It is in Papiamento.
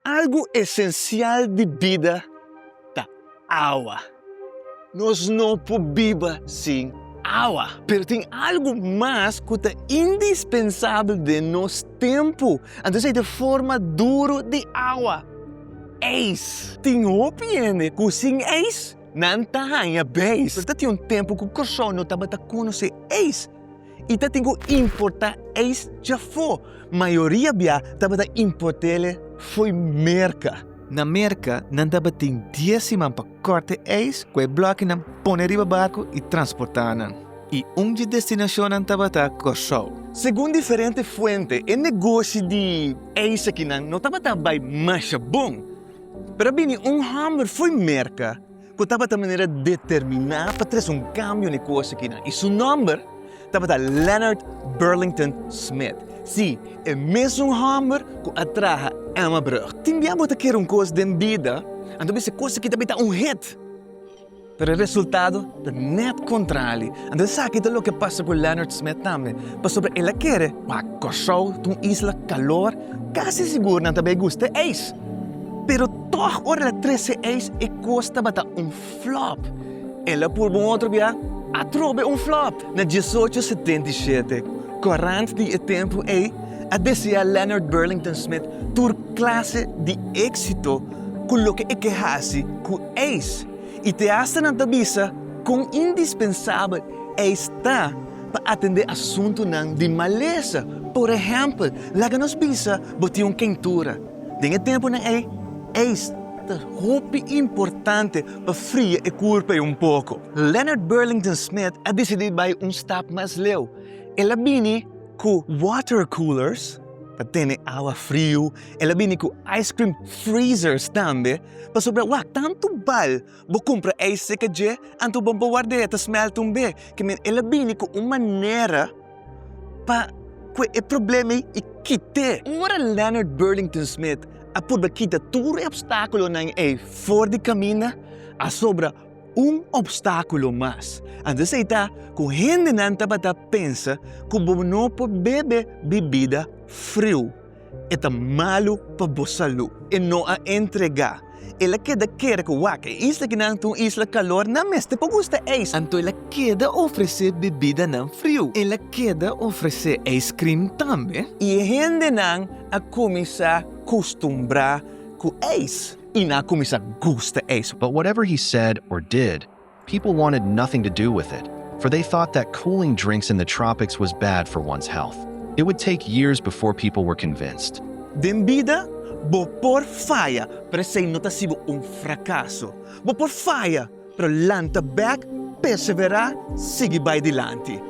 Algu esensial di bida ta awa. Nos no por biba sin awa. Pero tin algu mas cu ta indispensabel den nos tempu, anto esei ta e forma duru di awa, eis. Tin hopi hende cu sin eis nan ta haña beis. Pero ta tin un tempu cu Corsou no tabata conoce eis. I ta tin ku importá eis djafó. Mayoria bia tabata import'el fo'i Merka. Na Merka nan tabatin dies siman pa kòrt'e eis ku e blòkinan pone riba barku i transportá nan. I un dje destinashonnan tabata Kòrsou. Segun diferente fuente e negoshi di eis akinan no tabata bai masha bon. Pero a bini un hòmber fo'i Merka. ku tabata manera determiná pa tres un kambio n'e kos akinan, i su nòmber tabata Leonard Burlington Smith. Sí, e mesun hòmber ku a traha Emma Brug. Tin bia bo ta kere un kos den bida, anto bisa e kos aki ta bita un hit. Pero e resultado ta nèt kontrali. Anto esaki ta loke pasa ku Leonard Smith tambe. Pasobra el a kere pa Kòrsou ta un isla kalor, kasi sigur nan ta bai gusta e ais. Pero. Tòg ora el a trese eis e kos tabata un flòp. El a purba un otro bia, atrobe un flòp. Na diesocho setenta i shete, kòrant di e tempu ei a deseá Leonard Burlington Smith tur klase di éksito ku loke e ke hasi ku eis, i te asta nan ta bisa kon indispensabel eis ta pa atendé asuntunan di malesa. Por ehèmpel, laga nos bisa bo tin un keintura. Den e tempunan ei, ijs ta hopi importante pa fria e kurpa ei un poko. Leonard Burlington Smith a disidí bai un stap mas leu. El a bini ku water coolers pa tene awa friu, el a bini ku ice cream freezers tambe, pasobra wak tantu bal. Bo kumpra ei seka dje, anto bo bo warda ei ta smèlt un be. Ke men el a bini ku un manera pa kue e problema ei i kit'é. Ora Leonard Burlington Smith a purba kita tur e opstákulonan ei for di kaminda, a sobra un opstákulo mas. Anto esei ta ku hendenan tabata pensa ku bo no por bebe bibida friu. E ta malu pa bo salú. E no a entregá. El a keda kere ku wak. E isla kinan ta un isla kalor, nan mester por gusta ijs. Anto el a keda ofresé bebidanan friu. El a keda ofresé ijskrim tambe. I e hendenan a kuminsá kustumbrá ku ijs. I nan a kuminsá gusta ijs. But whatever he said or did, People wanted nothing to do with it, for they thought that cooling drinks in the tropics was bad for one's health. It would take years before people were convinced. Den bida, bo por faya, pero esei no ta sibo un frakaso. Bo por faya, pero lanta bek, perseverá, sigui bai dilanti.